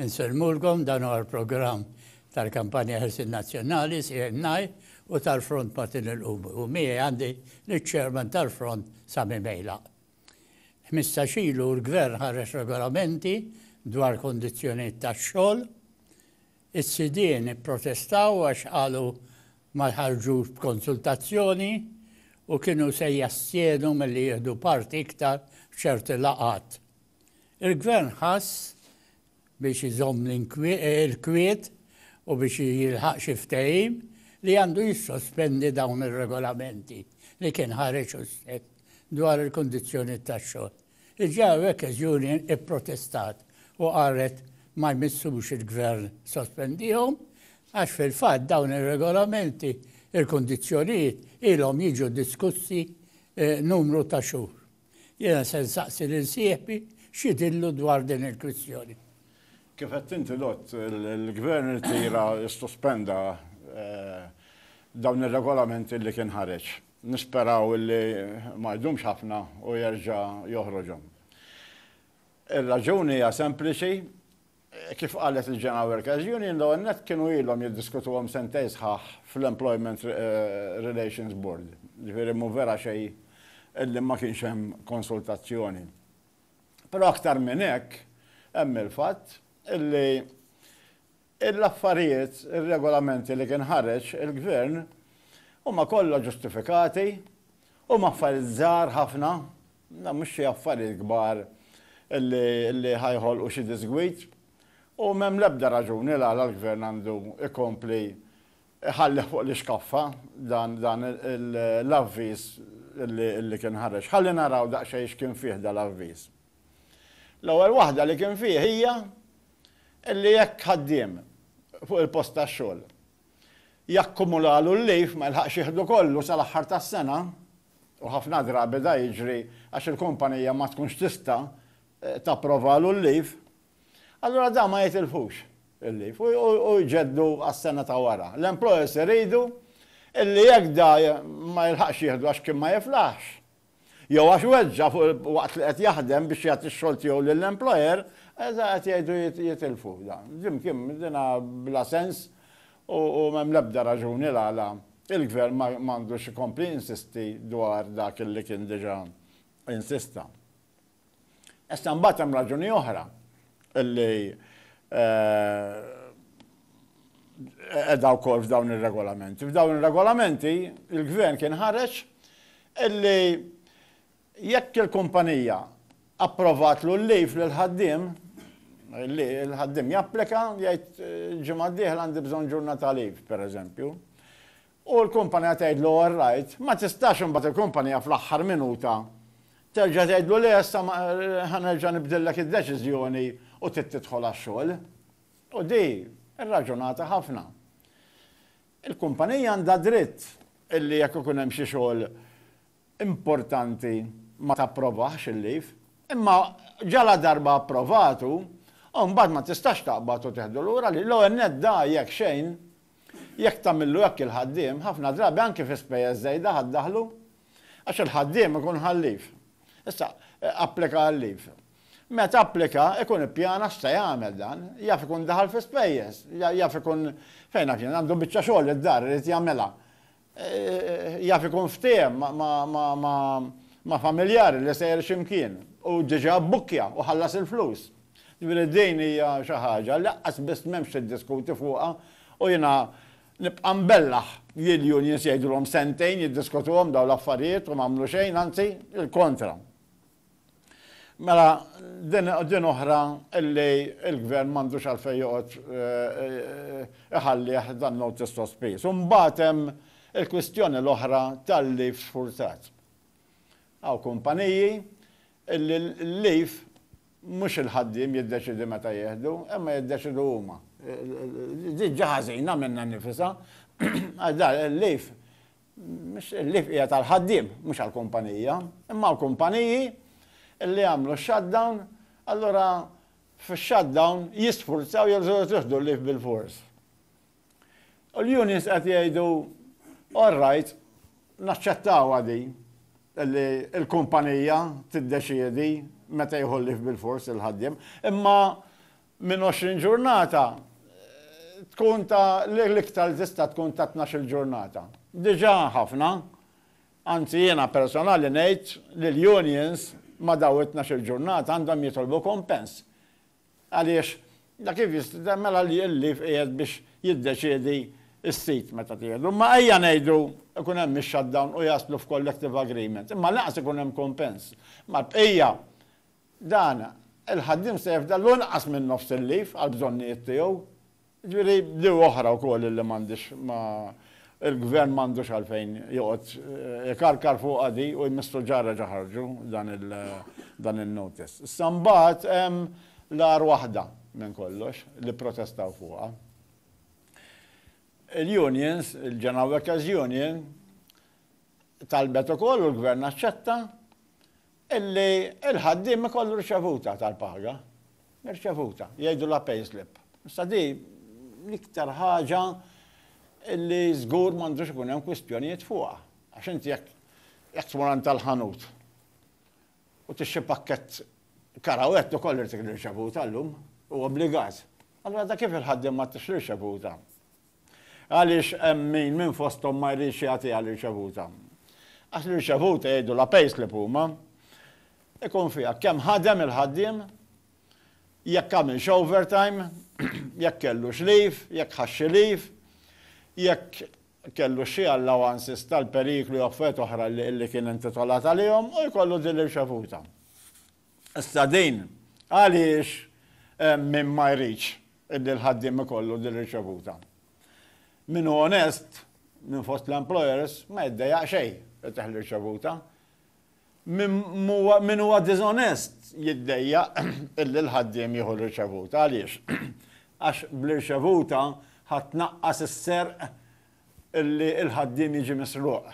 Insellmulkom, dan huwa l-programm tal-Kampanja Ħelsien Nazzjonali, CNI, u tal-Front Martin il-Qumri u miegħi għandi liċ-Chairman tal-Front Sami Mejlaq. Ħmistax ilu l-Gvern ħareġ regolamenti dwar kondizzjonijiet tax-xogħol. Is-sidien ipprotestaw għax qalu ma ħarġux b'konsultazzjoni u kienu se jastjenu milli jieħdu parti iktar f'ċerti laqgħat. Il-Gvern ħass biex iżomm l-kwiet u biex jilħaq xi ftehim li għandu jissospendi dawn ir-regolamenti li kien ħareġ hu stess dwar il-kundizzjonijiet tax-xogħol. Diġà Workers Union ipprotestat u qalet ma jmissux il-Gvern sospendihom għax fil-fatt dawn ir-regolamenti, il-kundizzjonijiet ilhom jiġu diskussi numru ta' xhur. Jiena se nsaqsi lil sieħbi x'jidhirlu dwar din il-kwistjoni. Kif għedt inti l-għodd, il-Gvern irtira, issospenda dawn ir-regolamenti li kien ħareġ. Nisperaw li ma jdumx ħafna u jerġa' joħroġhom. Ir-raġuni hija sempliċi, Kif qalet il-General Workers Union, l-ewwel nett kienu ilhom jiddiskutuhom sentejn sħaħ fl-Employment Relations Board. Ġifieri mhu vera xejn illi ma kienx hemm konsultazzjoni. Però aktar minn hekk hemm il-fatt illi l-affarijiet, ir-regolamenti li kien ħareġ il-Gvern huma kollha ġustifikati, huma affarijiet żgħar ħafna Dawn mhux xi affarijiet kbar li ħa joħolqu xi diżgwid u m'hemm l-ebda raġuni l-għala l-Gvern għandu jkompli jħallih fuq l-ixkaffa dan l-avviż li kien ħareġ. Ħalli naraw daqsxejn x'kien fih dal-avviż. L-ewwel waħda li kien fih hija li jekk ħaddiem fuq il-post tax-xogħol Jakkumulalu l-leave, ma jilħaqx jieħdu kollu sal-aħħar tas-sena, u ħafna drabi da jiġri għax il-kumpanija ma tkunx tista' tapprovalu l-leave, allura da ma jitilfux il-leave u jġeddu għas-sena ta' wara. L-employers iridu illi jekk da ma jilħaqx jieħdu għax kien ma jiflaħx, jew għax weġġa' fuq il waqt li qed jaħdem biex jagħti x-xogħol tiegħu lill-employer, eża' qed jgħidu jitilfu dan. Jim Kim, dinha bla sens u m'hemm l-ebda raġuni l-għala il-Gvern ma għandux ikompli jinsisti dwar dak li kien diġa' insista. Issa mbagħad hemm raġuni oħra li qiegħda wkoll f'dawn ir-regolamenti. F'dawn ir-regolamenti il-Gvern kien ħareġ illi jekk il-kumpanija approvatlu l-leave lill-ħaddiem, il-ħaddiem japplika jgħid ġimgħa d-dieħla għandi bżonn ġurnata leave, pereżempju, U l-kumpanija tgħidlu all right, ma tistax imbagħad il-kumpanija fl-aħħar minuta terġa' tgħidlu le issa ma ħa nerġa' nibdillek id-deċiżjoni u trid tidħol għax-xogħol. U di irraġunata ħafna. Il-kumpanija għandha dritt illi jekk ikun hemm xi xogħol importanti ma tapprovahx il-leave, imma ġaladarba approvatu, imbagħad ma tistax taqbad u teħdu lura l-leave. L-ewwel nett da jekk xejn Jekk tagħmillu hekk il-ħaddiem, ħafna drabi anki fi spejjeż żejda ħa ddaħħlu, għax il-ħaddiem ikun ħa l-leave. Issa, applika għal-leave. Meta applika, ikun ippjana x'se jagħmel dan. Jaf ikun daħal fi spejjeż, jaf ikun, fejn naf jien, għandu biċċa xogħol id-dar irid jagħmilha. jaf ikun ftehem ma' familjar li sejjer xi mkien u diġà bbukkja u ħallas il-flus. Jiġifieri din hija xi ħaġa li lanqas biss m'hemmx tiddiskuti fuqha u jiena nibqa' nbellaħ li l-unions jgħidulhom sentejn jiddiskutuhom dawn l-affarijiet u m'għamlu xejn, anzi, il-kontra. Mela din oħra illi l-Gvern m'għandux għalfejn joqgħod iħallih dan notice to spease. U mbagħad hemm il-kwistjoni l-oħra tal-leave sfurtat. Hawn kumpaniji illi l-leave mhux il-ħaddiem jiddeċiedi meta jieħdu, imma jiddeċiedu huma. Din ġa ħażina minnha nnifisha għax dan il-leave mhix il-lief hija tal-ħaddiem, mhux għall-kumpanija, imma hawn kumpaniji li jagħmlu x-shutdown, allura fix-shutdown jisfurzaw jew jieħdu l-lief bilfors. U l-unions qed jgħidu all right, naċċettawha din li l-kumpanija tiddeċiedi meta jieħu l-lief bilfors il-ħaddiem, imma Minn 20 ġurnata tkun ta' l-iktar li tista' tkun ta' tnax-il ġurnata. Diġà ħafna. Anzi jiena personali ngħid li l-unions ma' dawn it-tnax-il ġurnata għandhom jitolbu kumpens. Għaliex da kif jista' mela l-leave qiegħed biex jiddeċiedi s-sit meta tieħdu. Imma ejja ngħidu jkun hemm ix-shutdown u jaslu f'collective agreement. Imma lanqas ikun hemm kumpens mal-bqija. Dan, il-ħaddiem se jifda l-inqas minn nofs il-leave għall-bżonnijiet tiegħu. Jiġifieri b'diewa oħra wkoll illi m'għandhiex ma il-Gvern m'għandux għalfejn joqgħod ikarkar fuqha di u jmissu ġarreġ aħarġu dan in-notice. Issa mbagħad hemm l-agħar waħda minn kollox li pprotestaw fuqha. Il-unions, il-General Workers' Union, talbet ukoll u l-Gvern aċċetta Illi l-ħaddiem ikollu riċevuta tal-paga. Riċevuta, jgħidu la pay slip. Issa di l-iktar ħaġa illi żgur m'għandux ikun hemm kwistjonijiet fuqha. Għax inti jekk jekk tmur għand tal-ħanut u tixxi pakkett karawett ukoll irid riċevuta llum, huwa obbligat. Allura da kif il-ħaddiem ma tix riċevuta? Għaliex hemm min minn fosthom ma jridx jagħtiha l-irċevuta? Għax l-irċevuta jgħidu la payslip huma, ikun fiha kemm ħadem il-ħaddiem, jekk għamilx overtime, jekk kellux leave, jekk ħax xi leave, jekk kellux xi allowances tal-periklu jew affarijiet oħra li kien intitolat għalihom u jkollu din l-irċevuta. Issa din, għaliex min ma jridx illi l-ħaddiem ikollu din riċevuta? Min hu onest minn fost l-employers ma jiddejjaq xejn li tieħ l-irċevuta. Min huwa diżonest jiddejjaq illi l-ħaddiem jieħu l-irċevuta. Għaliex? Għax bl-irċevuta ħa tnaqqas is-serq illi l-ħaddiem jiġi misruq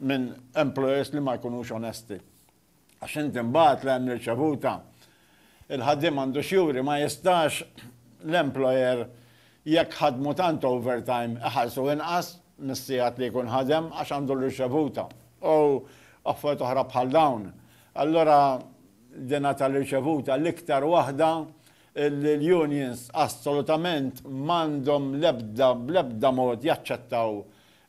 minn employers li ma jkunux onesti. Għax int imbagħad l-għajn irċevuta. Il-ħaddiem għandu x'juri, ma jistax l-employer jekk ħadmu tant overtime iħallsu inqas mis-sigħat li jkun ħadem għax għandu l-irċevuta. U affarijiet oħra bħal dawn. Allura dina tal-irċevuta l-iktar waħda li l-unions assolutament m'għandhom l-ebda bl-ebda mod jaċċettaw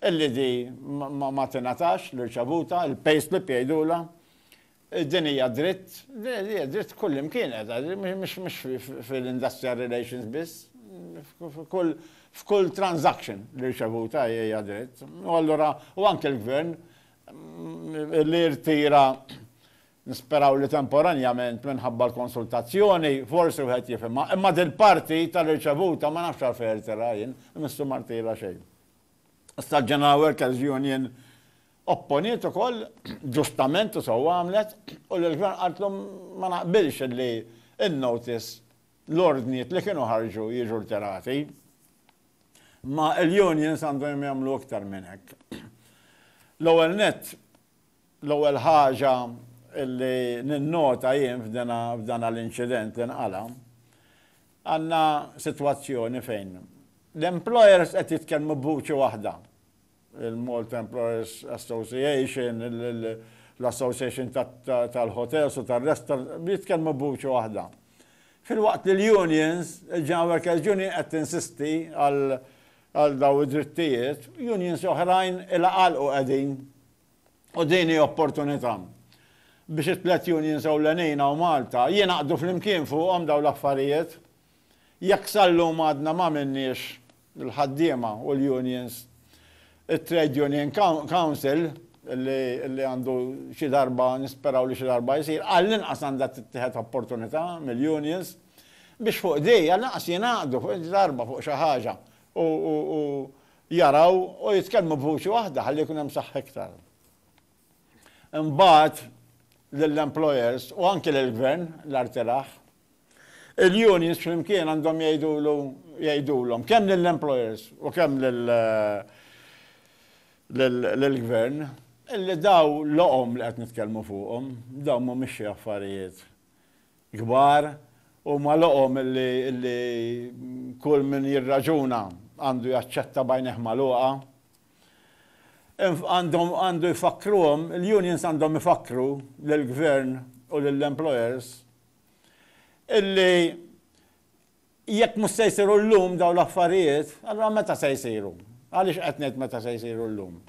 Il-ID ma tingħatax l-irċevuta, il-payslip jgħidulha. Din hija dritt, hija dritt kullimkien qiegħda, mhux fil-industrial relations biss. F'kull transaction l-irċevuta hija dritt. U allura, u anke l-Gvern li jirtira, nisperaw li temporanjament minħabba l-konsultazzjoni, forsi wieħed jifhimha, imma dil-parti tal-irċevuta ma nafx għalfejn jirtiraha jien, Missu ma rtira xejn. Issa General Workers Union opponiet ukoll, ġustament u sewwa għamlet, u l-Gvern qaltlu ma naqbilx li n-notice, l-ordnijiet li kienu ħarġu jiġu rtirati. Imma l-unions għandhom jagħmlu iktar minn hekk. L-ewwel nett, L-ewwel ħaġa li ninnota jien f'dana l-inċident li nqala', għandna sitwazzjoni fejn l-employers qed jitkellmu b'vuċi waħda, il-Malta Employers Association, l-Association tal-Hotels u tar-Restaurants, jitkellmu b'vuċi waħda. Filwaqt li l-unions, il-General Workers' Union qed tinsisti għal dawn id-drittijiet, unions oħrajn ilha għalqu qegħdin. U din hi opportunità biex it-tliet unions ewlenin hawn Malta jingħaqdu flimkien fuqhom dawn l-affarijiet. Jekk sal-lum għadna m'għamilniex, il-ħaddiema u l-unions, it-Trade Union Council, li għandu xi darba, nisperaw li xi darba jsir, għall-inqas għandha tittieħed opportunità mill-unions biex fuq din, għall-inqas jingħaqdu fuq xi darba fuq xi ħaġa u jaraw u jitkellmu b'vuċi waħda ħalli jkun hemm saħħa iktar. Imbagħad lill-employers u anke lill-Gvern, l-Artilaħ, il-unions flimkien għandhom jgħidulu jgħidulhom kemm lill-employers u kemm lill-Gvern illi daw l-oqom li qed nitkellmu fuqhom, dawn mhumiex xi affarijiet kbar, huma loqom li kull min jirraġuna għandu jaċċetta b'għajnejh magħluqa. Għandhom, għandu jfakkruhom, il-unions għandhom ifakkru lill-Gvern u lill-employers illi Jekk mhux se jsiru llum dawn l-affarijiet, allura meta se jsiru? Għaliex qed ngħid meta se jsiru llum?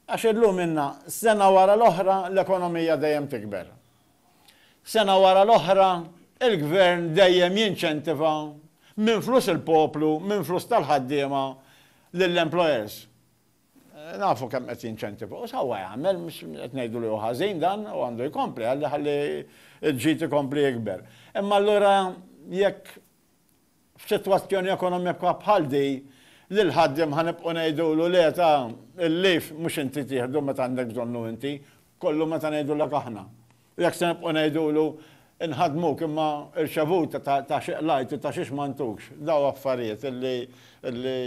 Għax illum ilna sena wara l-oħra l-ekonomija dejjem tikber. Sena wara l-oħra l-Gvern dejjem jinċentiva minn flus il-poplu, minn flus tal-ħaddiema lill-employers. Nafu kemm qed jinċentiva u sewwa jagħmel, mhux qed ngħidu li hu ħażin dan u għandu jkompli ħalli ħalli l-ġid ikompli jikber. Imma allura jekk f'sitwazzjoni ekonomika bħal di lill-ħaddiem ħa nibqgħu ngħidulu le ta' il-leave mhux inti tieħdu meta għandek bżonnu inti, kollu meta ngħidulek aħna. U jekk se nibqgħu ngħidulu, Inħaddmuk imma irċevuta ta' xi qlajt u ta' xiex ma ntukx, daw affarijiet li li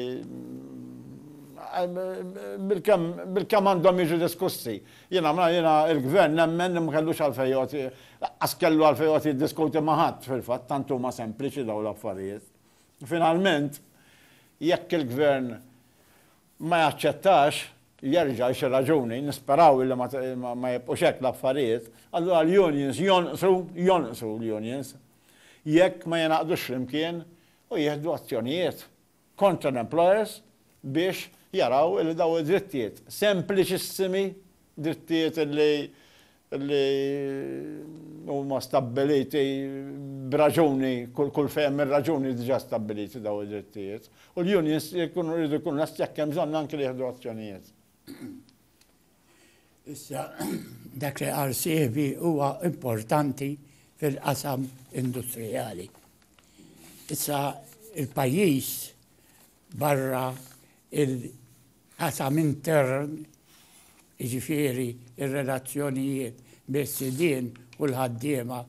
bilkemm bilkemm għandhom jiġu diskussi. Jiena ma jiena l-Gvern nemmen li ma kellux għalfejn joqgħod laqqas kellu għalfejn joqgħod jiddiskuti ma' ħadd fil-fatt, tant huma sempliċi dawn l-affarijiet. Finalment, jekk il-Gvern ma jaċċettax jerġa' xi raġuni, nisperaw illi ma jibqgħux hekk l-affarijiet, allura l-unions jonqsu, jonqsu l-unions jekk ma jingħaqdux flimkien u jieħdu azzjonijiet kontra l-employers biex jaraw illi dawn id-drittijiet sempliċissimi, drittijiet illi li huma stabbiliti b'raġuni, kulfejn hemm ir-raġuni diġà stabbiliti dawn id-drittijiet, u l-unions jkunu jridu jkunu lesti jekk hemm bżonn anki li jieħdu azzjonijiet. Issa, dak li qal sieħbi huwa importanti fil-qasam industrijali. Issa, il-pajjiż barra l-qasam intern, jiġifieri r-relazzjonijiet bejn sidien u l-ħaddiema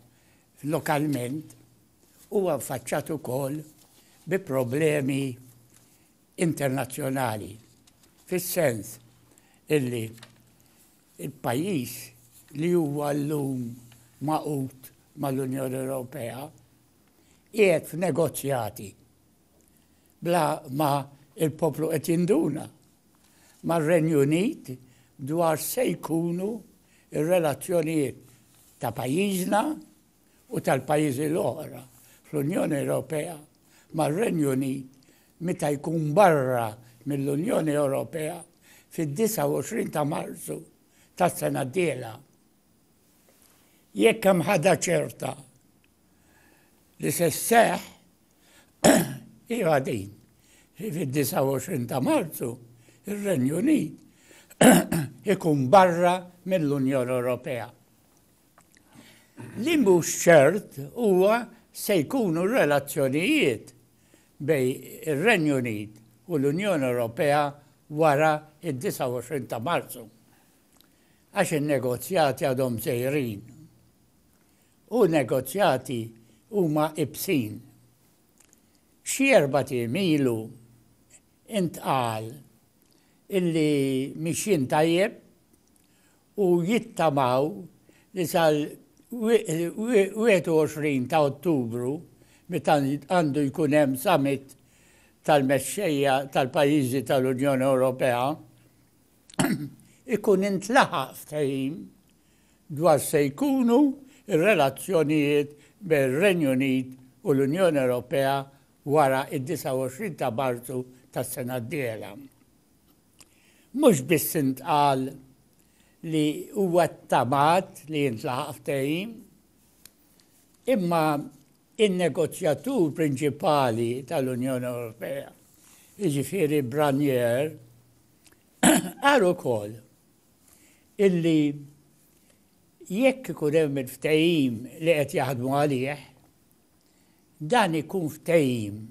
lokalment, huwa ffaċċat ukoll bi problemi internazzjonali, fis-sens illi l-pajjiż li huwa llum magħqud mal-Unjoni Ewropea qiegħed f'negozjati, bla ma l-poplu qed jinduna mar-Renju Unit dwar se jkunu r-relazzjonijiet ta' pajjiżna u tal-pajjiżi l-oħra fl-Unjoni Ewropea mar-Renju Unit meta jkun barra mill-Unjoni Ewropea fid-29 ta' Marzu tas-sena d-dieħla. Jekk hemm ħadha ċerta li se sseħħ Iva din, fid-29 ta' Marzu, ir-Renju Unit ikun barra mill-Unjoni Ewropea. Li mhux ċert huwa se jkunu r-relazzjonijiet bej ir-Renju Unit u l-Unjoni Ewropea wara id-29 ta' Marzu għax in-negozjati għadhom sejrin. u negozjati huma ibsin. Xi erbat ijiem ilu intqal illi mixjin tajjeb u jittamaw li sal-21 ta' Ottubru meta għandu jkun hemm summit tal-mexxejja tal-pajjiżi tal-Unjoni Ewropea ikun intlaħaq ftehim dwar se jkunu r-relazzjonijiet bejn ir-Renju Unit u l-Unjoni Ewropea wara d-29 ta' Marzu tas-sena d-dieħla. Mhux biss intqal li huwa ttamat li jintlaħaq ftehim, imma n-negozjatur prinċipali tal-Unjoni Ewropea, jiġifieri Branier, qal ukoll, illi jekk ikun hemm il-ftehim li qed jaħdmu għalih, dan ikun ftehim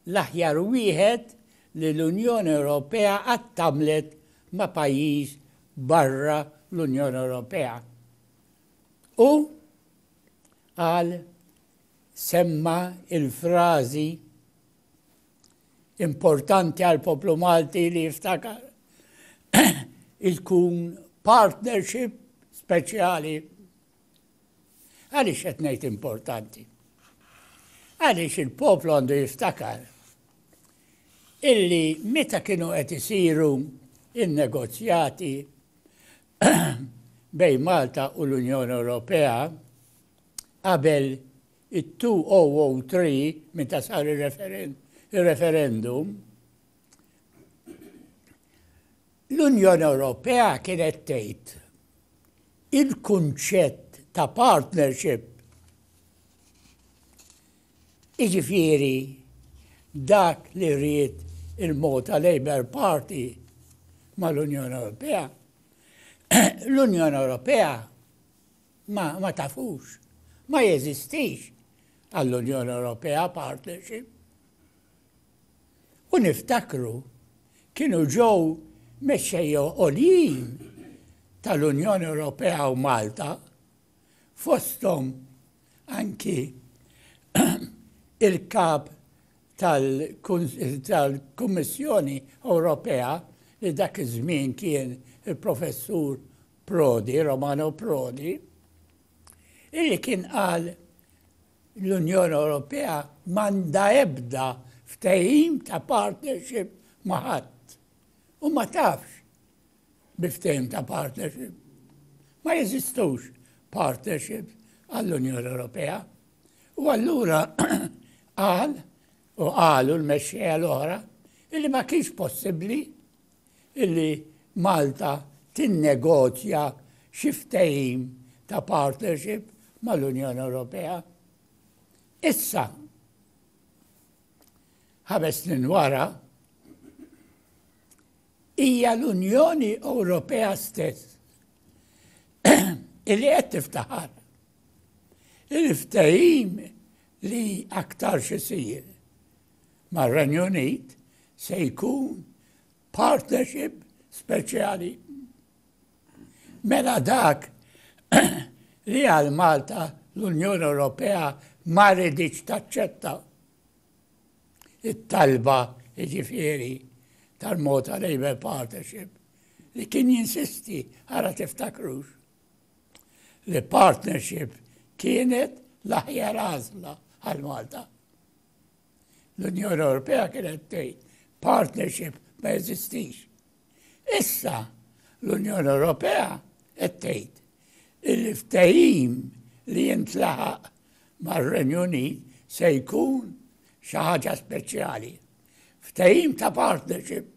l-aħjar wieħed li l-Unjoni Ewropea qatt għamlet ma' pajjiż barra l-Unjoni Ewropea. U qal semma il-frażi Importanti għall-poplu Malti li jiftakar li tkun partnership speċjali. Għaliex qed ngħid importanti? Għaliex il-poplu għandu jiftakar illi meta kienu qed isiru in-negozjati bejn Malta u l-Unjoni Ewropea qabel it-2003 meta sar ir-referendum, l-Unjoni Ewropea kienet tgħid il-kunċett ta' partnership jiġifieri dak li ried il-Malta Labour Party mal-Unjoni Ewropea, l-Unjoni Ewropea ma tafux, ma jeżistix għall-Unjoni Ewropea partnership. U niftakru kienu ġew mexxejja għoljin tal-Unjoni Ewropea u Malta fosthom anki il-kap tal-Kummissjoni Ewropea li dak iż-żmien kien il-Professur Prodi, Romano Prodi, illi kien qal l-Unjoni Ewropea m'għandha ebda ftehim ta' partnership ma' ħadd u ma tafx bi ftehim ta' partnership. Ma jeżistux partnership għall-Unjoni Ewropea. U allura qal u qalu l-mexxejja l-oħra illi ma kienx possibbli illi Malta tinnegozja xi ftehim ta' partnership mal-Unjoni Ewropea. Issa, ħames snin wara, hija l-Unjoni Ewropea stess illi qed tiftaħar il-ftehim li aktar xisir mar-Renju Unit se jkun partnership speċjali. Mela dak li għal Malta l-Unjoni Ewropea ma ridiċ taċċetta it-talba jiġifieri tal-Malta Labour Partnership li kien jinsisti għara tiftakrux li partnership kienet l-aħjar għażla għal Malta. L-Unjoni Ewropea kienet tgħid partnership ma jeżistix. Issa l-Unjoni Ewropea qed tgħid il-ftehim li jintlaħaq mar-Renju Unit se jkun xi ħaġa speċjali. Ftehim ta' partnership.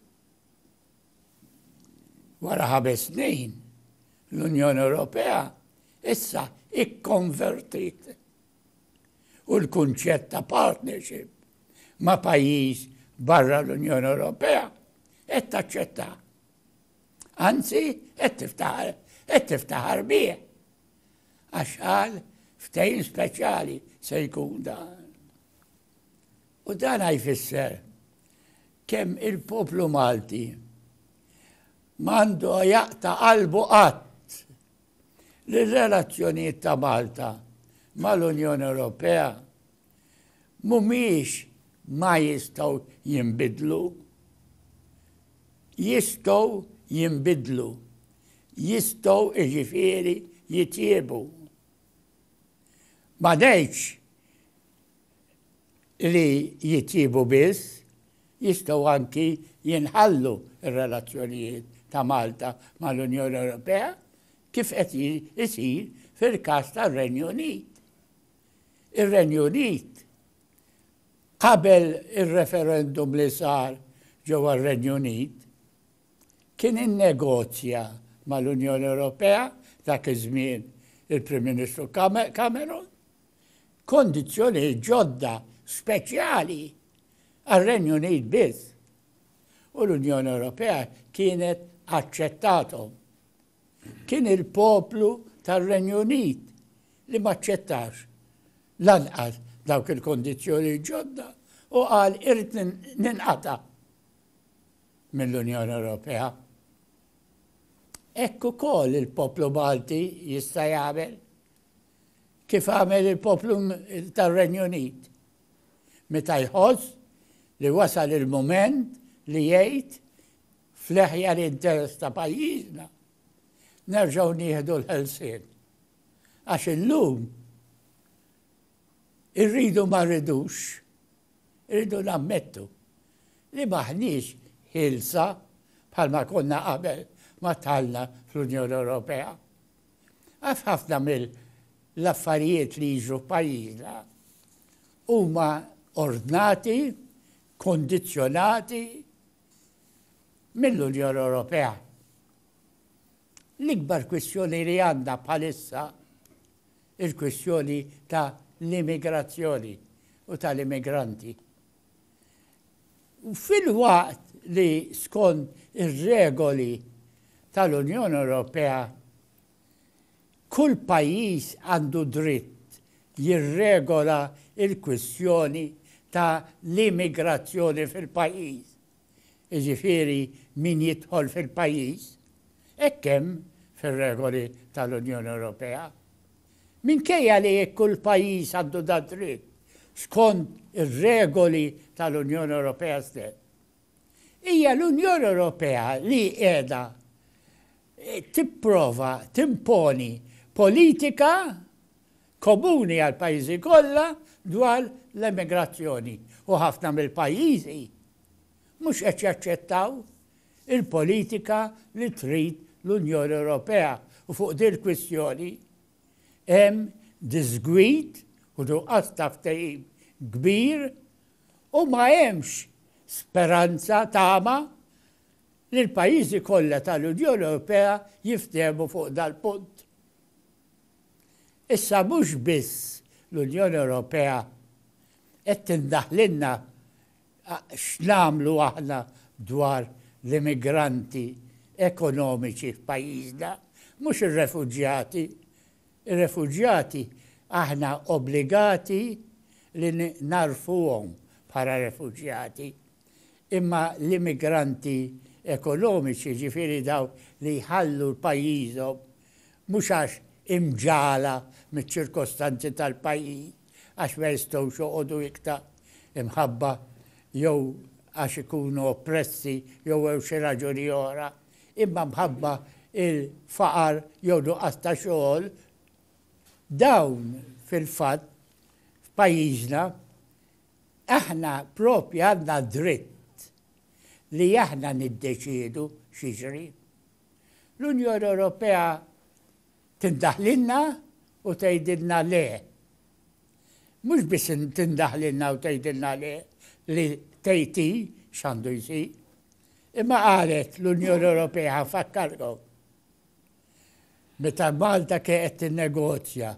Wara ħames snin, l-Unjoni Ewropea issa ikkonvertit u l-kunċett ta' partnership ma' pajjiż barra l-Unjoni Ewropea qed taċċettah. Anzi, qed tiftaħar, qed tiftaħar bih. Għax qal ftehim speċjali se jkun dan. U dan jfisser kemm il-poplu Malti mandu jaqta qalbu qatt li r-relazzjonijiet ta' Malta mal-Unjoni Ewropea mhumiex ma jistgħu jinbidlu, jistgħu jinbidlu, jistgħu jiġifieri jitjiebu. Ma ngħidx li jitjiebu biss, jistgħu anki jinħallu r-relazzjonijiet ta' Malta mal-Unjoni Ewropea kif qed isir fil-każ tar-Renju Unit. Ir-Renju Unit qabel ir-referendum li sar ġewwa r-Renju Unit kien innegozja mal-Unjoni Ewropea dak iż-żmien il-Prim Ministru Cameron kondizzjonijiet ġodda speċjali għar-Renju Unit biss u l-Unjoni Ewropea kienet aċċettathom. Kien il-poplu tar-Renju Unit li m'aċċettax lanqas dawk il-kondizzjonijiet ġodda u qal irrid ninqata' mill-Unjoni Ewropea. Hekk ukoll il-poplu Malti jista' jagħmel kif għamel il-poplu tar-Renju Unit meta jħoss li wasal il-mument li jgħid fl-eħja l-interess ta' pajjiżna nerġgħu nieħdu l-ħelsien. Għax illum irridu ma rridux, irridu nammettu li maħniex ħilsa bħalma konna qabel ma talna fl-Unjoni Ewropea. Għax ħafna mill-affarijiet li jiġru f'pajjiżna huma ordnati, kondizzjonati mill-Unjoni Ewropea. L-ikbar kwistjoni li għandna bħalissa il-kwistjoni ta' l-immigrazzjoni u tal-immigranti. Filwaqt li skond ir-regoli tal-Unjoni Ewropea, kull pajjiż għandu dritt jirregola l-kwistjoni ta' l-immigrazzjoni fil-pajjiż, jiġifieri min jidħol fil-pajjiż, hekk hemm fir-regoli tal-Unjoni Ewropea, Minkejja li kull pajjiż għandu dad-dritt skond ir-regoli tal-Unjoni Ewropea stess, hija l-Unjoni Ewropea li qiegħda tipprova timponi politika komuni għall-pajjiżi kollha dwar l-emigrazzjoni u ħafna mill-pajjiżi, mhux qed jaċċettaw il-politika li trid l-Unjoni Ewropea u fuq din il-kwistjoni hemm diżgwid u nuqqas ta' ftehim kbir u ma hemmx speranza tama li l-pajjiżi kollha tal-Unjoni Ewropea jiftehmu fuq dal-punt. Issa mhux biss l-Unjoni Ewropea qed tindaħlilna X'nagħmlu aħna dwar l-immigranti ekonomiċi f'pajjiżna, mhux ir-refuġjati? Ir-refuġjati aħna obbligati li nagħrfuhom bħala refuġjati. Imma l-immigranti ekonomiċi, jiġifieri dawk li jħallu pajjiżhom mhux għax imġagħla miċ-ċirkostanzi tal-pajjiż, għax ma jistgħux joqogħdu ikta imħabba jew għax ikunu oppressi jew għew xi raġuni oħra, imma mħabba il-faqar jew nuqqas ta' xogħol, dawn fil-fatt f'pajjiżna aħna proprja għandna dritt li aħna niddeċiedu x'jiġri. L-Unjoni Ewropea Tindaħlilna u tgħidilna le. Mhux biss tindaħlilna u tgħidilna le li tgħid hi x'għandu jsir, imma qalet l-Unjoni Ewropea ħanfakkarkom meta Malta kienet tinnegozja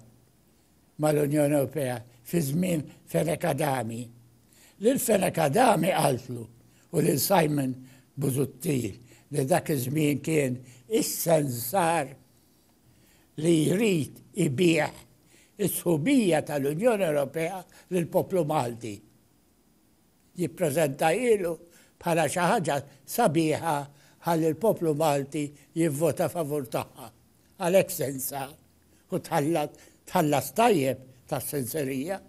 mal-Unjoni Ewropea fi żmien Fenek Adami. Lil Fenek Adami qaltlu u lil Simon Buzuttil li dak iż-żmien kien is-sensar li jrid ibiegħ is-sħubija tal-Unjoni Ewropea lill-poplu Malti. Jippreżentahailu bħala xi ħaġa sabiħa ħalli l-poplu Malti jivvota favur tagħha. Għalhekk se nsar u tħallas tajjeb tas-senserija.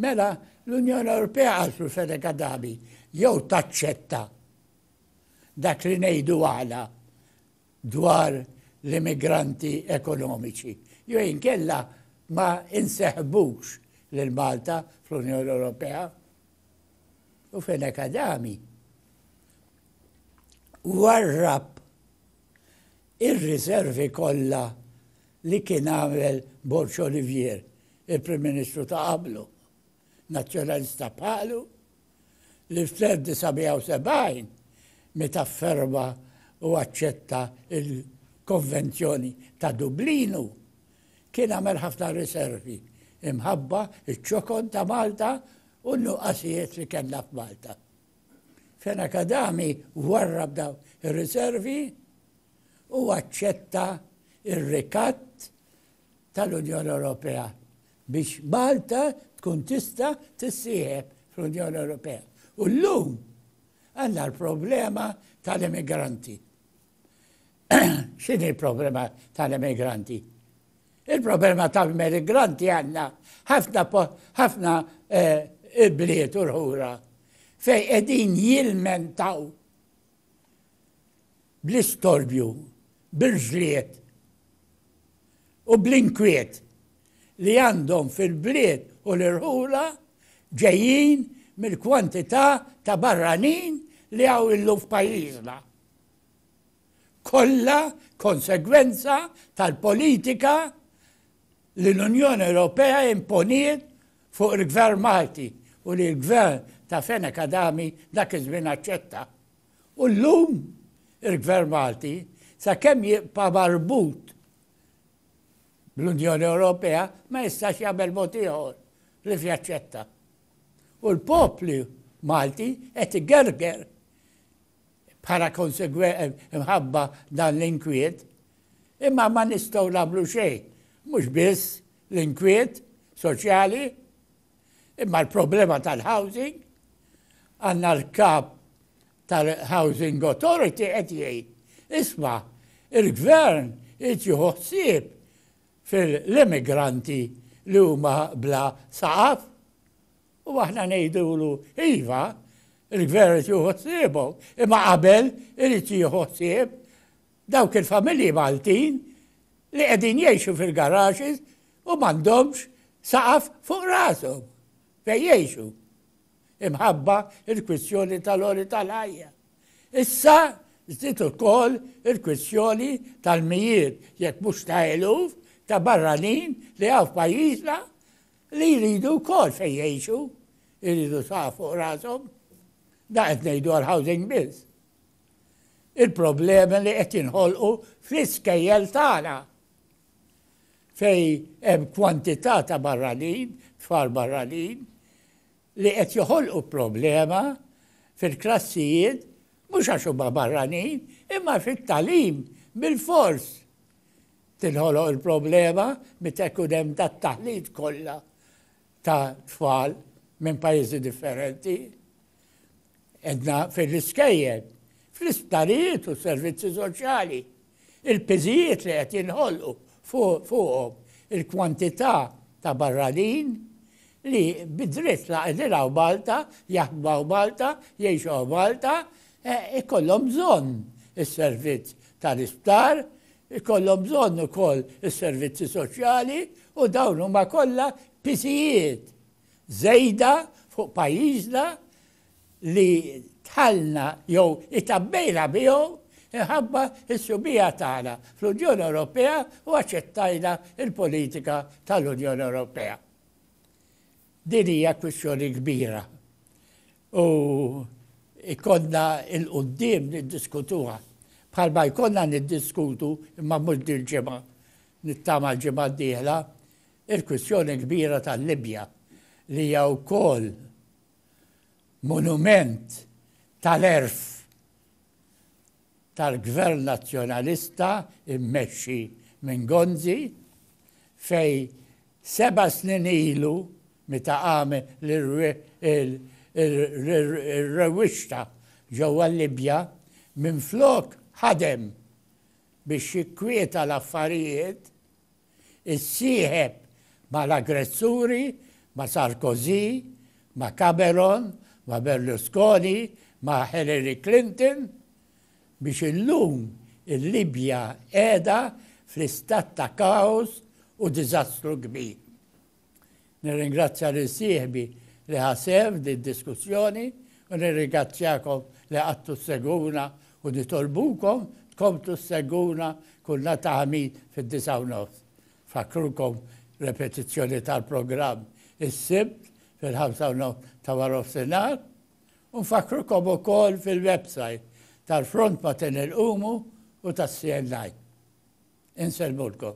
Mela l-Unjoni Ewropea għal Sulfede Kadabi jew taċċetta dak li ngħidu għala dwar l-immigranti ekonomiċi, jew inkella ma inseħbux lil Malta fl-Unjoni Ewropea. U fejn hekk Adami warrab ir-riservi kollha li kien għamel Borċ Olivier, il-Prim Ministru ta' qablu, nazzjonalista bħalu, li fl-1970, meta fferma u aċċetta l-Konvenzjoni ta' Dublinu, kien għamel ħafna riservi imħabba ċ-ċokon ta' Malta u n-nuqqasijiet li kellna f'Malta. Fena Kadami warrab dawn ir-riservi u aċċetta r-rikatt tal-Unjoni Ewropea biex Malta tkun tista' tissieħeb fl-Unjoni Ewropea. U llum għandna l-problema tal-immigranti. X'inhi l-problema tal-immigranti? Il-problema tal-immigranti għandna ħafna ħafna eh, bliet u l-ħura fej qegħdin jilmentaw bl-istorbju, bil-ġliet u bl-inkwiet li għandhom fil-bliet u l-irħula ġejjin mill-kwantità ta' barranin li hawn illum f'pajjiżna. Kollha konsegwenza tal-politika li l-Unjoni Ewropea imponiet fuq il-Gvern Malti u li l-Gvern ta' Fenech Adami dak iż-żmien aċċetta. U llum il-Gvern Malti sakemm jibqa' marbut L-Unjoni Ewropea ma jistax jagħmel mod ieħor li f'jaċċetta. U l-popli Malti qed igerger bħala konsegwe mħabba dan l-inkwiet, imma ma nistgħu nagħmlu xejn, mhux biss l-inkwiet soċjali, Imma l-problema tal-housing għandna l-kap tal-Housing Authority qed jgħid isma' il-gvern irid jieħu ħsieb fil-immigranti li huma bla saqaf. U aħna ngħidulu iva, il-gvern irid jieħu ħsiebhom, imma qabel irid jieħu ħsieb Dawk il-familji Maltin li qegħdin jgħixu fil-garages u m'għandhomx saqaf fuq rashom fejn jgħixu imħabba il-kwistjoni tal-għoli tal-ħajja. Issa żdiet ukoll il-kwistjoni tal-mijiet jekk mhux ta' eluf ta' barranin li hawn f'pajjiżna li jridu wkoll fejn jgħixu, jridu saqaf fuq rashom. Da qed ngħidu għall-housing biss. il-problemi li qed jinħolqu fl-iskejjel tagħna fej hemm kwantità ta' barranin, tfal barranin, li qed joħolqu problema fil-klassijiet mhux għax huma barranin, imma fit-talim bil-fors tinħoloq il-problema meta jkun hemm dat-taħlit kollha ta' tfal minn pajjiżi differenti. Edna fil-riskejjed, fl-isptarijiet u servizzi soċjali, il-piżijiet li qed jinħolqu fuqhom il-kwantità ta' barranin li bidritt la ediraw Malta, jaħdmaw Malta, jiexaw Malta, e, ikollhom bżonn is-servizz tal-isptar, ikollhom bżonn ukoll is-servizzi soċjali u dawn huma kollha piżijiet żejda fuq pajjiżna li dħalna jew itgħabbejna miegħu minħabba s-subigħa tagħna fl-Unjoni Ewropea u aċċettajna l-politika tal-Unjoni Ewropea. Din hija kwistjoni kbira u jkollna il-qudiem niddiskutuha bħalma jkollna niddiskutu imma mhux dil-ġimgħa nittama l-ġimgħa d-dieħla Il-kwistjoni l-kbira tal-Libja li hija wkoll monument tal-għerf tal-Gvern Nazzjonalista mmexxi minn Gonzi fejn seba' snin ilu meta għamel ir-rewwixta ġewwa l-Libja minflok ħadem biex jikkwieta l-affarijiet, issieħeb ma' l-aggressuri, ma' Sarkozy, ma' Cameron, ma' Berlusconi, ma' Hillary Clinton, biex illum il-Libja qiegħda fl-istat ta' kaos u diżastru kbir. Nirringrazzja lil sieħbi li ħa sehem f'din id-diskussjoni u nirrigazzjakom li qgħadtu ssegwuna u nitolbukom tkomplu ssegwuna kull nhar ta' Ħamid fid-disgħa u nofs. Nfakkrukom repetizzjoni tal-programm is-Sibt fil-ħamsa u nofs ta' warofsinhar u nfakkrukom ukoll fil-website tal-Front Matin Ilqumu u tas-CNI. Insellmulkom.